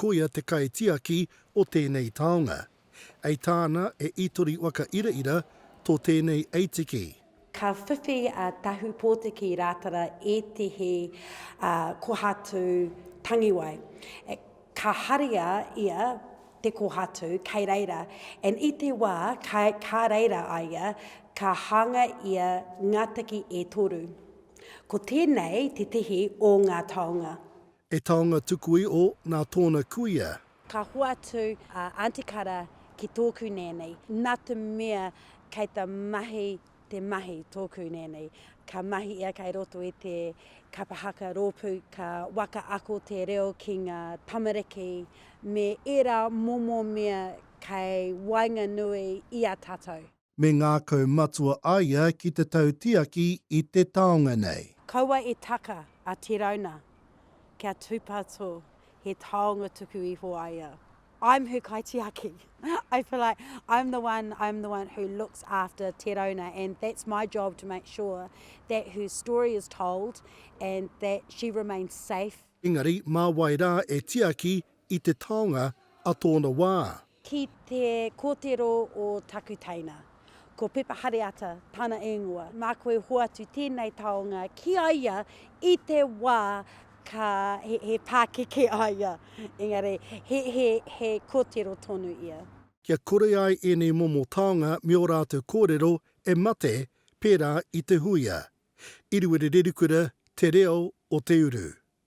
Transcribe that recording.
Koia te kaitiaki o tēnei taonga. Ei tāna e Itori Waka Iraira tō tēnei eitiki. Ka whiwhi a Tahu Pōtiki Rātara ētehi kohatu tangiwai. Ka haria ia te kohatu kei reira, and i te wā ka reira a ia, ka hānga ia ngā tiki e toru. Ko tēnei tētehi o ngā taonga. E taonga tukui o na tona kuia. Ka hoatu a Aunty Kara ki tōku nēnei, nā te mea kei te mahi te mahi tōku nēnei. Ka mahi ia kei roto i te kapa haka rōpū, ka waka ako te reo ki ngā tamariki me ērā momo mea kei waenganui i a tātou. Me ngākau matua a ia ki te tautiaki i te taonga nei. Kaua e taka a Te Rauna kia tūpato he taonga tuku iho a ia. I'm her kaitiaki. I feel like I'm the one, I'm the one who looks after Te Rauna and that's my job to make sure that her story is told and that she remains safe. Engari, mā wai rā e tiaki i te taonga a tōna wā. Ki te kōtero o taku teina, ko Pepa Hareata tana īngoa. Mā koe e hoatu tēnei taonga ki a ia i te wā ka, he, he pākeke a ia, engari he, he, he kōtero tonu ia. Kia kore ai ēnei momo taonga me ō rātou kōrero e mate pērā i te huia, Iriwiri Rerikura, Te Reo o te Uru.